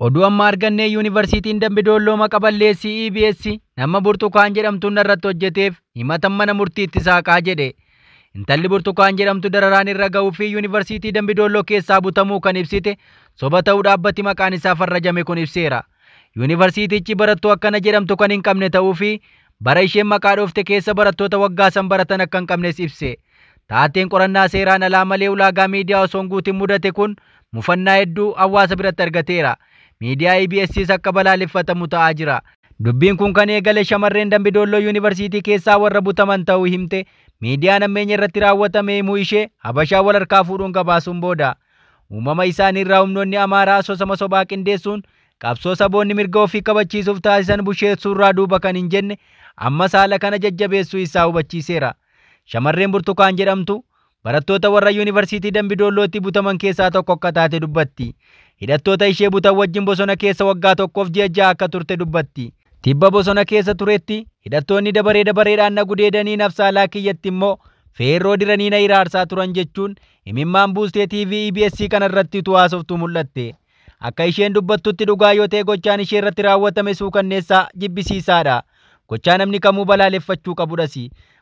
Oduu amma argannee yuunivarsiitiin Dambi Doolloo maqa balleessii EBS nama Burtukaan jedhamtuun irratti hojjeteef himatan mana murtiitti saaqaa jedhe. Intalli Burtukaan jedhamtu dararaan irra ga'uu fi yuunivarsiitii Dambi Doolloo keessaa butamuu kan ibsite soba ta'uu dhaabbati maqaan isaa farrajame kun ibseera. Yuunivarsiitichi barattuu akkana jedhamtu kan hin qabne ta'uu fi bara isheen maqaa dhoofte keessa barattoota waggaa san baratan akka hin qabnes ibse. Taateen qorannaa seeraan alaa malee ulaagaa miidiyaa osoo hin guutin mudate kun mufannaa hedduu hawaasa biratti argateera. Miidiyaa EBSs akka balaaleffatamu ta'aa jira. Dubbiin kun kan eegale shamarreen Dambi Doolloo Yuunivarsiitii keessaa warra butaman ta'uu himte miidiyaan hammeenya irratti raawwatame himuu ishee Habashaa wal harkaa fuudhuun gabaasuun booda. Uumama isaanii irraa humnoonni Amaaraa asoosama sobaa qindeessuun qabsoo saboonni mirga ofii kabachiisuuf taasisan busheessuurraa duuba kan hin jenne ammas haala kana jajjabeessuu isaa hubachiiseera. Shamarreen Burtukaan jedhamtu barattoota warra Yuunivarsiitii Dambidoollootti butaman keessaa tokko akka taate dubbatti. Hidhattoota ishee butan wajjin bosona keessa waggaa tokkoof ji'a ja'a akka turte dubbatti. Tibba bosona keessa turetti hidhattoonni dabaree dabareedhaan na gudeedanii nafsaalaa kiyyatti immoo feerroo diranii na hiraarsaa turan jechuun imimmaan buustee TV EBS kanarratti utuu haasoftuu mul'atte. Akka isheen dubbattutti dhugaa yoo ta'e gochaan ishee irratti raawwatame suukanneessaa jibbisiisaadha. Gochaa namni kamuu balaaleffachuu qabudhas.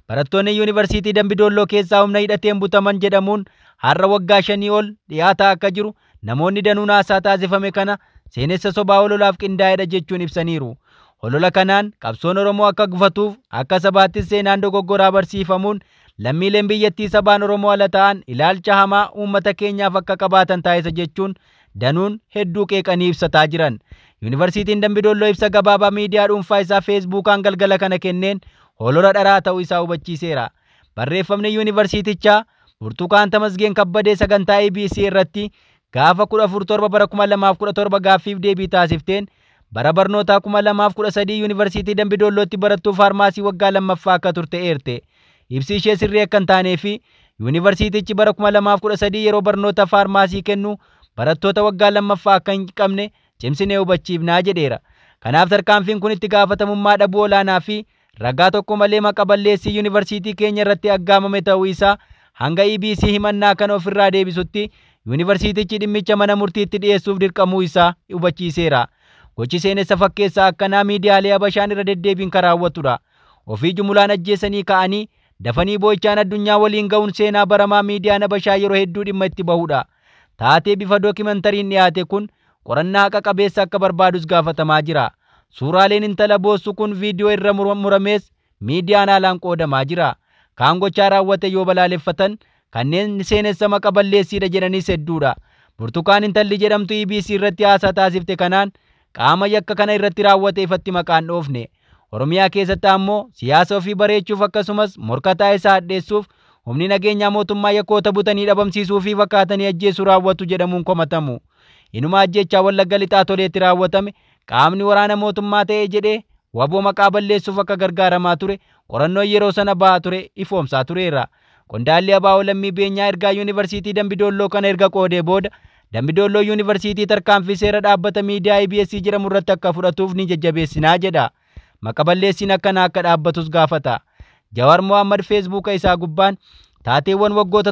Barattoonni Yuunivarsiitii Dambidoolloo keessaa humna hidhateen butaman jedhamuun har'a waggaa shanii ol dhiyaataa akka jiru namoonni danuun haasaa taasifame kana seenessa sobaa hololaaf qindaa'edha jechuun ibsaniiru. Holola kanaan qabsoon Oromoo akka gufatuuf akka sabaattis seenaan dogoggoraa barsiifamuun lammiileen biyyattii sabaan Oromoo ala ta'an ilaalcha hamaa uummata keenyaaf akka qabaatan taasisa jechuun danuun hedduu qeeqanii ibsataa jiran. Yuunivarsiitiin Dambidolloo ibsa gabaabaa miidiyaa dhuunfaa isaa Feesbuukaan galgala kana kenneen hoolora dharaa ta'uu isaa hubachiiseera. Barreeffamni yuunivarsiitichaa Burtukaan Tamasgeen Kabbadee sagantaa EBC irratti gaafa 14 7 bara 2017 gaaffiif deebii taasifteen Bara barnootaa 2013 Yuunivarsiitii Dambidoollootti barattuu faarmaasii waggaa lammaffaa akka turte eerte. Ibsi ishee sirrii akka hin taanee fi Yuunivarsiitichi bara 2013 yeroo barnoota faarmaasii kennu barattoota waggaa lammaffaa akka hin qabne cimsinee hubachiifnaa jedheera. Kanaaf tarkaanfiin kun itti gaafatamummaa dhabuu olaanaa fi ragaa tokko malee maqa balleessii yuunivarsiitii keenya irratti aggaamame ta'uu isaa hanga EBC himannaa kana ofirraa deebisutti yuunivarsiitichi dhimmicha mana murtiitti dhiyeessuuf dirqamuu isaa hubachiiseera. Gochi seenessa fakkeessaa akkanaa miidiyaalee Habashaan irra deddeebiin kan raawwatudha. Ofii jumulaan ajjeesanii ka'anii dafanii boo'ichaan addunyaa waliin ga'uun seenaa baramaa miidiyaan Habashaa yeroo hedduu dhimma itti bahudha. Taatee bifa dookimantariin dhiyaate kun qorannaa haqa qabeessa akka barbaadus gaafatamaa jira. Suuraaleen intala boossu kun viidiyoo irra muramees miidiyaan haalaan qoodamaa jira. Kaan gochaa raawwate yoo balaaleffatan, kanneen seenessa maqa balleessiidha jedhanis hedduudha. Burtukaan intalli jedhamtu EBC irratti haasaa taasifte kanaan qaama yakka kana irratti raawwate ifatti maqaan dhoofne Oromiyaa keessatti ammoo siyaasa ofii bareechuuf akkasumas morkataa isaa hadheessuuf humni nageenyaa mootummaa yakkoota butanii dhabamsiisuu fi fakkaatanii ajjeesuu raawwatu jedhamuun komatamu. Inuma ajjeechaa Wallagga Lixaa Toleetti raawwatame qaamni waraana mootummaa ta'e jedhee waboo maqaa balleessuuf akka gargaaramaa ture qorannoon yeroo sana ba'aa ture ifoomsaa tureera. Qondaalli Abaa'oo Lammii Beenyaa ergaa Yuunivarsiitii Dambidoolloo kana erga qoodee booda Dambidoolloo Yuunivarsiitii tarkaanfii seera dhaabbata miidiyaa EBS jedhamu irratti akka fudhatuuf ni jajjabeessinaa jedha. Maqa balleessiin akkanaa akka dhaabbatus gaafata. Jawaar Mohaammed Feesbuuka isaa gubbaan taateewwan waggoota